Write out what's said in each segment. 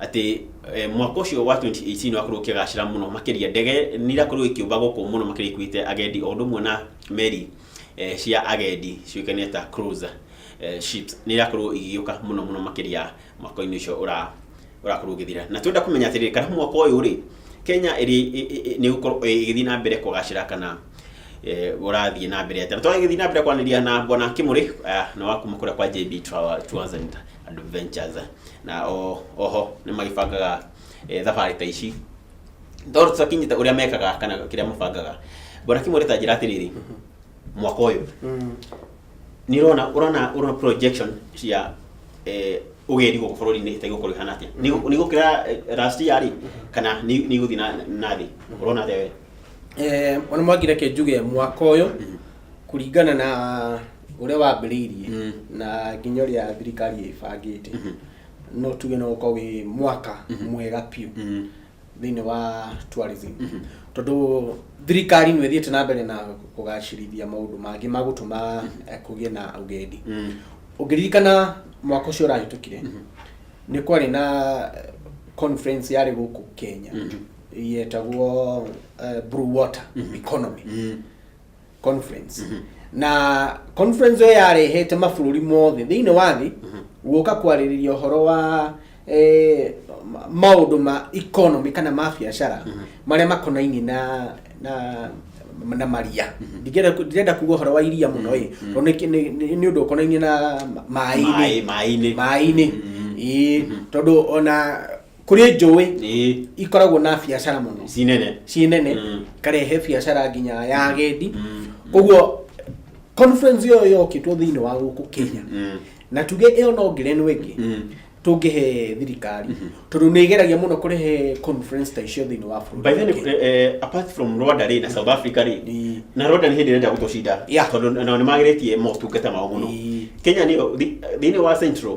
atĩ eh, mwaka ũcio wa 2018 wakorwo ũkĩgacĩra mũno makĩria ndege nĩ irakorwo ikĩũmba gũkũ mũno makĩria ikuĩte agendi o ũndũ ũmwe na meri eh, cia agendi ciũĩkaine ta cruiser eh, ships nĩ irakorwo igĩũka mũno mũno makĩria mwaka-inĩ ũcio ũra- ũrakorwo ũgĩthira na twenda kũmenya atĩrĩrĩ kana mwaka ũyũ rĩ kenya ĩrĩ- ĩ- ĩ- ĩ- nĩ gũkorwo ĩgĩthiĩ na mbere kũgacĩra kana eh, ũrathiĩ na mbere atĩa twagĩthiĩ na mbere kwanĩria na bwana kimũrĩ eh, na wakuma kũrĩa kwa jb Travel Tours and Adventures na o oho nĩ magĩbangaga eh, thabarĩ ta ici tondũ tũtakinyĩte ũrĩa mekaga kana kĩrĩa mabangaga mbona kimwe ta njĩra atĩrĩrĩ mwaka ũyũ Mm. nĩ ũrona ũrona ũrona projection cia eh, ũgeri gũkũ bũrũri-inĩ ĩtagĩ gũkorwo ĩhana atĩa Nĩ gũ- nĩ gũkĩra eh, last year rĩ kana nĩ nĩ igũthiĩ na- na thĩ ũrona atĩa we Eh, ona mwangire ke njuge mwaka ũyũ kũringana na ũrĩa wambĩrĩirie mm. na nginya ũrĩa thirikari ĩbangĩte mm -hmm. no tuge no ũkorwo wĩ mwaka mm -hmm. mwega piũ mm -hmm. thĩinĩ wa tourism mm -hmm. tondũ thirikari nĩ ĩthiĩte na mbere na kũgacĩrithia maũndũ mangĩ ma gũtũma mm -hmm. kũgĩe na ũgendi mm -hmm. ũngĩririkana mwaka ũcio ũrahĩtũkire mm -hmm. nĩ kwarĩ na conference yarĩ gũkũ kenya mm -hmm. yetagwo uh, blue water mm -hmm. economy mm -hmm conference na conference ĩyo yarehete mabũrũri mothe thĩinĩ wa thĩ guoka kwarĩrĩria ũhoro wa eh, ma- maũndũ ma economy kana ma biacara marĩa makonainie na na na maria ndirenda ku- ndirenda kuga ũhoro wa iria mũno ĩ tondũ nĩ kĩ- nĩ- nĩ nĩ ũndũ ũkonainie na ma- maĩ-inĩ Maĩ- maĩ-inĩ. maĩ-inĩ Ĩĩ, tondũ ona kũrĩ njũĩ ĩĩ ikoragwo na biacara mũno ci nene ciĩ nene Mm. karehe biacara nginya ya agendi Mm. koguo conference ĩyo yokĩtwo thĩinĩ wa gũkũ kenya Mm. na tuge ĩyo no ngerenwa ĩngĩ Mm. tũngĩhe thirikari tondũ nĩ ĩgeragia mũno kũrehe conference ta icio thĩinĩ wa bũrũri by the way, wa Kenya. eh, eh, apart from rwanda rĩ na south africa rĩ Ĩĩ. na rwanda nĩ hĩndĩ ĩrenda gũtũcinda Yeah. tondũ nao nĩ magĩrĩtie motungata mao mũno Ĩĩ. kenya nĩ thĩinĩ wa central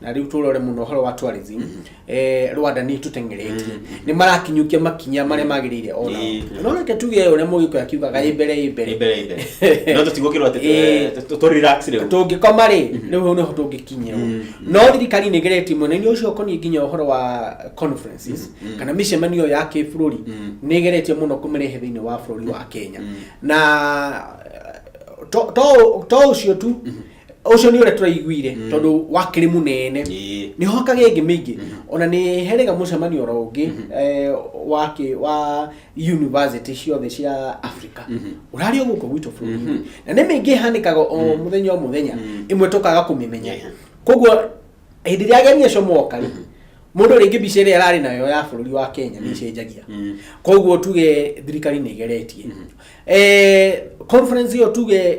na rĩu tũrore mũno ũhoro wa tourism eh, rwanda nĩ tũteng'eretie nĩ marakinyũkia makinya marĩa magĩrĩire ona Ĩ. no reke tuge ũrĩa mũgĩkũyũ akiugaga ĩ mbere ĩ mbere Imbere, imbere. no tũtigũkĩrwo atĩ Ĩ. tũ- tũ- tũ relax rĩu tũngĩkoma rĩ rĩu hau nĩho tũngĩkinyia no thirikari nĩ ĩgeretie mwena-inĩ ũcio ũkoniĩ nginya ũhoro wa conferences kana mĩcemanio ya kĩbũrũri nĩ ĩgeretie mũno kũmĩrehe thĩinĩ wa bũrũri wa kenya na to- to to ũcio tu ucio ni uria turaiguire mm. tondu wakiri munene ni ho kage ingi mingi mm. ona ni herega mucemanio ro ungi mm. eh, wa ki wa university ciothe cia africa mm. urari oguko gwitu buru mm. na ni mingi hanikaga o mm. muthenya o muthenya mm. imwe tukaga kumimenya yeah. koguo hindi ria ageni acio moka mm. mundu ringi mbica ria arari nayo ya bururi wa kenya ni cenjagia mm. mm. koguo tuge thirikari ni igeretie mm. eh, conference iyo tuge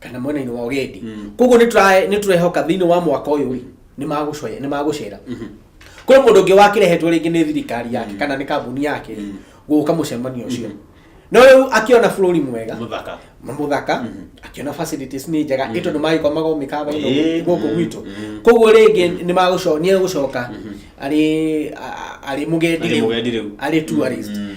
kana mwena-inĩ wa ũgendi Mm. koguo nĩ tũra- nĩ tũrehoka thĩinĩ wa mwaka ũyũ rĩ nĩ magũcoya- nĩ magũcera kwĩ mũndũ ũngĩ wakĩrehetwo rĩngĩ nĩ thirikari yake kana nĩ kambuni yake rĩ Mm. gũka mũcemanio ũcio no rĩu akĩona bũrũri mwega muthaka mũthaka akĩona facilities nĩ njega ĩto nĩ magĩkomaga o mĩkawa ĩno Eh, gũkũ mm, gwitũ mm. koguo rĩngĩ nĩ magũcoka nĩ egũcoka arĩ a- a- arĩ mũgendi Arĩ rĩu mũgendi rĩu. arĩ tourist Mm.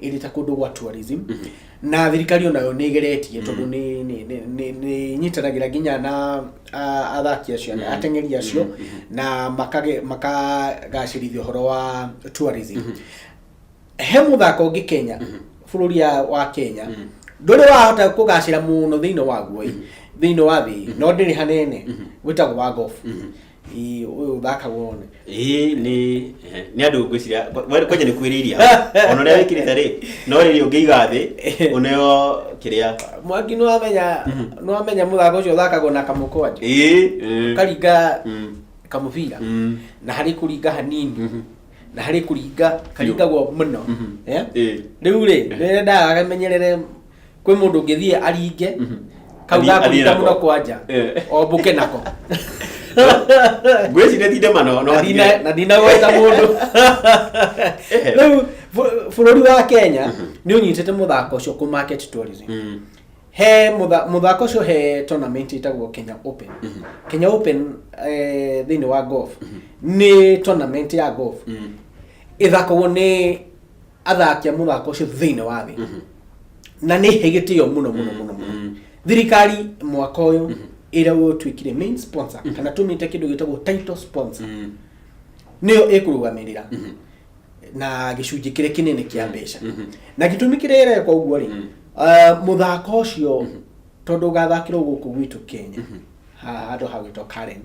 ĩrĩ ta kũndũ gwa tourism na thirikari onayo nĩ ĩgeretie tondũ nĩ- nĩ- nĩ- nĩ- nĩ ĩnyitanagĩra nginya na a- athaki acio na ateng'eri acio na makage- makagacĩrithia ũhoro wa tourism he mũthako ũngĩ kenya bũrũri ya- wa kenya ndũrĩ wahota kũgacĩra mũno thĩinĩ waguo thĩinĩ wa thĩ no ndĩrĩ hanene wĩtagwo wa golf Ii, ũyũ ũthakagwo one ĩĩ nĩ ehe, nĩ andũ ngwĩciria we- kwanja nĩ kwĩrĩirie ona ũrĩa wĩkĩrĩte rĩ no rĩrĩ ũngĩiga thĩ ũneo kĩrĩa mwangi nĩwamenya nĩwamenya mũthako ũcio ũthakagwo na kamũkwanja ĩĩ mm, karinga mm, kamũbira mm, na harĩ kũringa hanini mhm, na harĩ kũringa karingagwo mũno Mhm. Eh? ĩĩ. rĩu rĩ nĩrendaga akamenyerere kwĩ mũndũ ũngĩthiĩ aringe kau Athiĩ- athiĩ gakũringa nako. mũno kwanja Eh. ombũke nako ngwĩciria ti ndema no no Na ndina- na ndinagweta mũndũ Ehe. rĩu bũ- bũrũri wa kenya nĩ ũnyitĩte mũthako ũcio kũ market tourism Mm. he mũtha- mũthako ũcio he tournament ĩtagwo kenya open kenya open eh, thĩinĩ wa golf nĩ tournament ya golf Mm. ĩthakagwo nĩ athaki a muthako ucio thiini wa thi na ni he gitio muno muno muno muno thirikari mwaka uyu ira utuikire main sponsor kana tumite kindu gitagwo title sponsor niyo ikurugamirira na gicunjĩ kĩrĩa kĩnene kĩa mbeca na gĩtũmi kĩrĩa ĩreka ũguo rĩ ah, mũthako ũcio tondũ ũgathakĩrwo gũkũ gwitũ kenya ha- handũ hagwĩtwo karen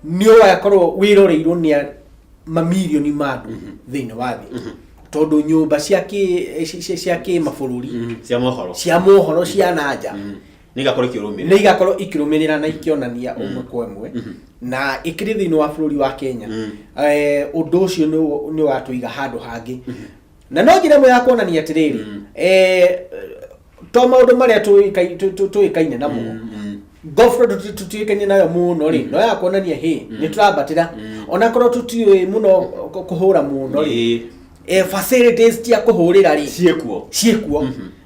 nĩ ũgakorwo wĩroreirwo nĩ a- mamirioni ma andũ thĩinĩ wa thĩ tondũ nyũmba cia kĩ- ci- ci- cia kĩmabũrũri Mhm. cia mohoro cia mohoro cia na nja Mhm. nĩ igakorwo ikĩrũmĩrĩra nĩ igakorwo ikĩrũmĩrĩra na ikĩonania ũmwe kwa ĩmwe na ĩkĩrĩ thĩinĩ wa bũrũri wa kenya Mhm. eh, ũndũ ũcio nĩ- nĩ watũiga handũ hangĩ na no njĩra ĩmwe ya kuonania atĩrĩrĩ Mm. eh, to maũndũ marĩa tũĩkai- tũ- tũ- tũĩkaine namo Mm, mm. gofro tũtiĩkaine nayo mũno rĩ no ya kuonania hĩ nĩ tũrambatĩra onakorwo tũtiũĩ mũno kũ- kũhũra mũno rĩ Ĩĩ. eh, facilities cia kũhũrĩra rĩ ciĩkuo ciĩkuo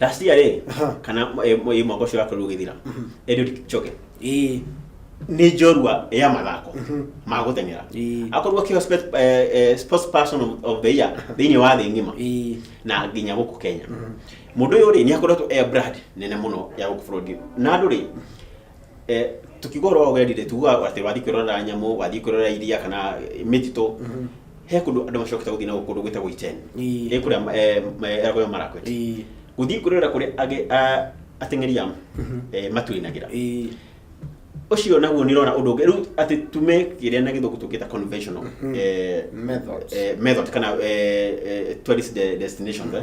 last year rĩ Aha. kana eh, mwe- mwaka ũcio wakorirwo ũgĩthira Eliud Kipchoge ĩĩ nĩ njorua ya mathako ma gũteng'era Ĩĩ. akorwo akĩho spe- eh, eh, sports person of- of the year thĩinĩ wa thĩ ng'ima ĩĩ na nginya gũkũ kenya mũndũ ũyũ rĩ nĩ akoretwo e brand nene mũno ya gũkũ bũrũri na andũ rĩ Eh, tukiuga ũhoro wa ũgendi rĩ tugaga atĩ wathiĩ kwĩrorera nyamũ wathiĩ kwĩrorera iria kana eh, mĩtitũ he kũndũ andũ macokete gũthiĩ na kũndũ gwĩtagwo icheni Ii. ĩ kũrĩa eh, ma- erago ya marakwet Ii. gũthiĩ kwĩrorera kũrĩa age- a- ateng'eri ya eh, matuinagĩra Ii. ũcio naguo nĩ ũrona ũndũ ũngĩ rĩu atĩ tume kĩrĩa na gĩthũngũ tũkĩta conventional eh, Methods. eh, method kana eh, eh, tourist de- destinations eh.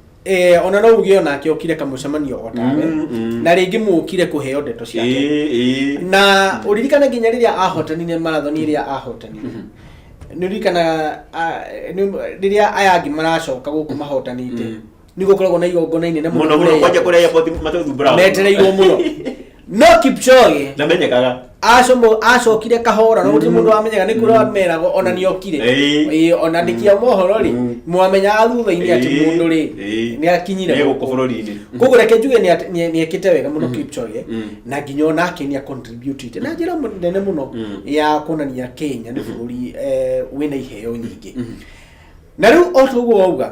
Eh, ona no uge onake okire kamucemanio otawe Mm, mm. na rĩngĩ mũkire kũheo ndeto ciake Ĩĩ, ĩĩ. na ũririkane nginya rĩrĩa ahotanire marathoni ĩrĩa ahotanire nĩ ũririkanaga ah, nĩ- rĩrĩa aya angĩ maracoka gũkũ mahotanĩte Mm. nĩ gũkoragwo na igongona inene mũno mũno mũno kũrĩa kwanja airport. kũrĩa airport matũthumbũra metereirwo mũno no kipchoge ndamenyekaga acomo acokire kahora no gutiri mundu wamenyaga ni kuria wamerago ona ni okire Eh. Ĩĩ, ona ndikia mohoro ri Mm. mwamenyaga thutha-ini ati Eh. mundu ri Eh. ni akinyire Nĩ gũkũ bũrũri-inĩ koguo reke njuge nĩ at- nĩ- nĩ ekĩte wega mũno kipchoge Mm. na nginya ona ake nĩ acontributite na njĩra mũ- nene mũno Mm. ya kuonania kenya nĩ bũrũri eh, wĩna iheo nyingĩ na rĩu o toguo wauga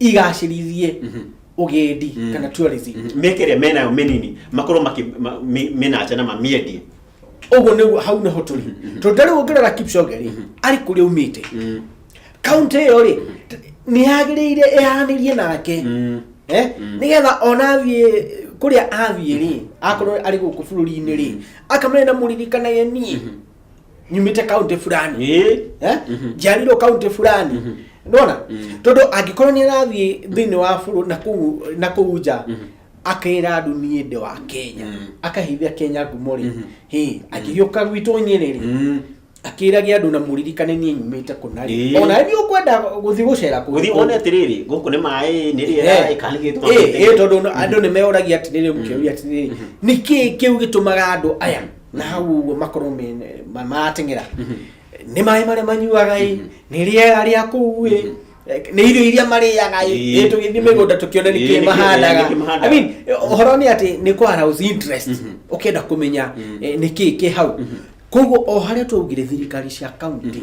igacĩrithie ũgendi kana tourism mĩeke ĩrĩa menayo mĩnini makorwo makĩ- ma- mĩ- mĩnanja na mamĩendie ũguo nĩguo hau nĩho tũrĩ tondũ ta rĩu ũngĩrora kipchoge rĩ arĩ kũrĩa umĩte kaunti ĩyo rĩ nĩ yagĩrĩire ĩhanĩrie nake Eh, nĩgetha ona athiĩ kũrĩa athiĩ rĩ akorwo arĩ gũkũ bũrũri-inĩ rĩ akamenya na mũririkanage niĩ nyumite kaunti fulani Eh, eh? njiarirwo kaunti fulani ndona tondu angĩkorwo nĩ arathiĩ thĩinĩ wa bũrũri na kũu- na kũu nja akera andũ niĩ ndĩ wa kenya akahithia kenya ngumo rĩ hĩ akĩgĩũka gwitũ nyĩrĩ rĩ mm. akĩragia andũ na mũririkane niĩ nyumĩte kũna Ĩĩ. rĩ ona nĩ ũkwenda gũthiĩ gũcera kũu. gũthiĩ wone atĩrĩrĩ gũkũ nĩ maĩ nĩ rĩera Eh, ĩkanigĩtwo eh, eh, tondũ no- andũ nĩ meoragia atĩrĩrĩ mũkĩũria atĩrĩrĩ nĩkĩ kĩu gĩtũmaga andũ aya na hau ũguo makorwo me- ma- marateng'era nĩ maĩ marĩa manyuaga ĩ nĩ rĩera rĩa kũu ĩ nĩ irio iria marĩaga ĩ Ĩ. ĩ tũgĩthiĩ mĩgũnda tũkĩone Ĩ, nĩkĩ nĩkĩ- mahandaga nĩkĩ mahandaga. I mean, ũhoro nĩ atĩ nĩ kwarous interest ũkĩenda kũmenya eh, nĩkĩ kĩ hau koguo o harĩa twaugire thirikari cia kaunti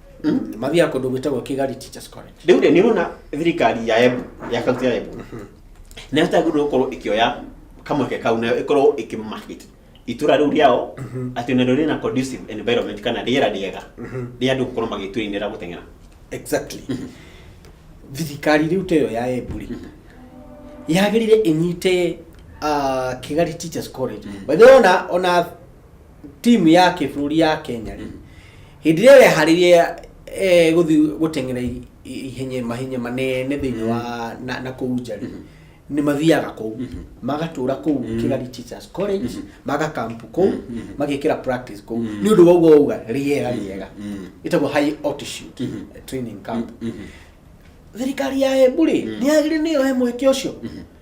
mathiaga kũndũ gwĩtagwo kigari teachers college rĩu rĩ nĩ ũrona thirikari ya embu ya kaunti ya embu nĩ yagĩrĩirwo gũkorwo ĩkĩoya kamweke kau nayo ĩkorwo ĩkĩmarket itũra rĩu rĩao atĩ narĩo rĩna conducive environment kana rĩera rĩega rĩa andũ gũkorwo magĩtwĩinĩra gũteng'era exactly thirikari rĩu ta ĩyo ya emburi yagĩrĩire ĩnyite ah, kigari teachers college by the way ona ona timu ya kĩbũrũri ya kenya rĩ hĩndĩ ĩrĩa weharĩrie eh, gũthiĩ gũteng'era i- i- ihenya mahenya manene thĩinĩ wa na, na kũu nja rĩ nĩ mathiaga kũu magatũra kũu kĩgari teachers college magakampu kũu magekĩra practice kũu nĩ ũndũ wa ũguo uga rĩera rĩega ĩtagwo high altitude training camp thirikari ya embu rĩ nĩ yagĩrĩire nĩ yohe mweke ũcio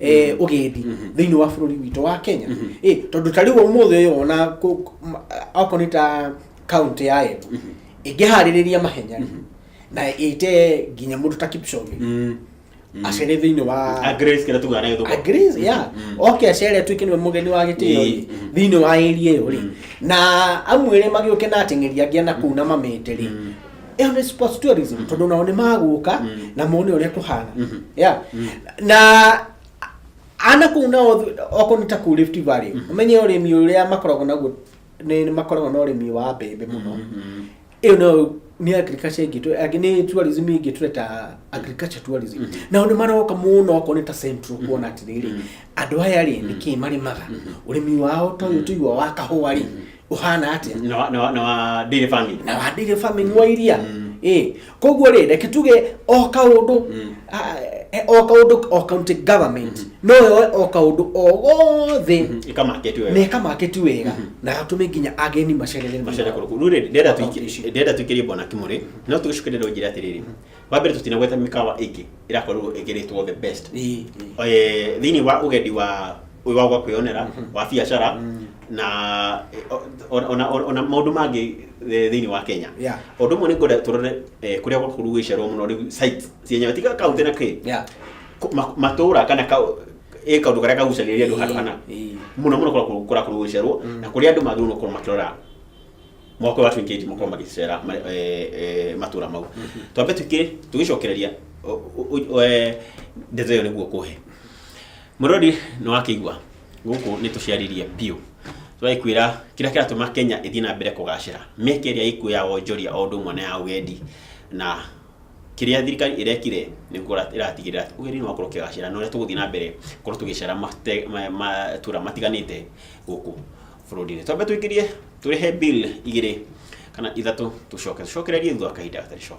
eh, ũgendi thĩinĩ wa bũrũri witũ wa kenya Eh, tondũ ta rĩu ũmũthĩ ũyũ ona kũ- kũ- ma- okorwo nĩ ta kaunti ya embu ĩngĩharĩrĩria mahenya na ĩte nginya mũndũ ta kipchoge Mm. acere thĩinĩ wa A Grace kĩrĩa tugaga na gĩthũngũ. agrees yeah oke acere tuike niwe mugeni wa gitio ri Mm. thiini wa area iyo ri na amwire magiuke na ateng'eri angĩ na kuu na mamete ri ĩyo nĩ sports tourism tondũ nao nĩ magũka na mone ũrĩa kũhana yeah. na ana kũu nao thĩ- okorwo nĩ ta kũu Rift Valley ũmenye ũrĩmi ũrĩa makoragwo naguo nĩ nĩ makoragwo na ũrĩmi wa mbembe mũno ĩyo nayo nĩ agriculture ingĩtwe angĩ nĩ tourism ingĩtwe ta agriculture tourism nao nĩ maroka mũno okorwo nĩ ta central kuona atĩrĩrĩ andũ aya rĩ nĩkĩ marĩmaga ũrĩmi wao ta ũyũ tũigua wa kahũa rĩ ũhana atĩa na wa- na wa- na wa daily farming na wandĩire family wa iria ĩ koguo rĩ reke tuge o kaũndũ ah, eh, o kaũndũ o county government no yoe o kaũndũ o gothe ikamaketi na wewe ĩkamaketi wega na gatũme nginya ageni macerere macera kũrũkũ rĩu rĩ, ndĩrenda Kaunti tuiki- ici. ndĩrenda tuikĩrie bwana kimũrĩ no tũgĩcokeria rĩu njĩra atĩrĩrĩ wa mbere tũtinagweta mĩkawa ĩngĩ ĩrakorwo ĩkĩrĩtwo the best Ĩ, ĩ. Eh, thĩinĩ wa ũgendi wa ũyũ wa gwa kwĩyonera wa biacara na eh, o- ona- ona- ona maũndũ mangĩ eh, thĩinĩ wa kenya Yeah. ũndũ ũmwe nĩ ngwenda tũrore eh, kũrĩa gwakorwo gũgĩcerwo mũno rĩu site cia nyama tiga kaunti na kĩ Yeah. Kũ- ma- matũũra kana ka- ĩ kaũndũ karĩa kagucanĩrĩria andũ handũ hana Ĩ, ĩ. mũno mũno kũrakorwo- kũrakorwo gũgĩcerwo na kũrĩa andũ magĩrĩirwo gũkorwo makĩrora mwaka wa 28 makorwo magĩcera ma- eh, eh, matũra mau twambe tũkĩ tũgĩcokereria o- o- o- eh, ndeto ĩyo nĩguo kũhe mũrori nĩ wakĩigua gũkũ nĩ tũciarĩrie biũ twaĩkwĩra kĩrĩa kĩratũma kenya ĩthiĩ na mbere kũgacĩra mĩeke ĩrĩa ĩkuo ya wonjoria o ũndũ ũmwe na ya ũgendi na kĩrĩa thirikari ĩrekire nĩ gũkorwo ĩratigĩrĩra atĩ ũgendi nĩ wakorwo ũkĩgacĩra na ũrĩa tũgũthiĩ na mbere korwo tũgĩcera mate- ma- matũra matiganĩte gũkũ bũrũri-inĩ twambe tũingĩrie tũrĩhe bill igĩrĩ kana ithatũ tũcoke tũcokererie thutha wa kahinda gatarĩ coo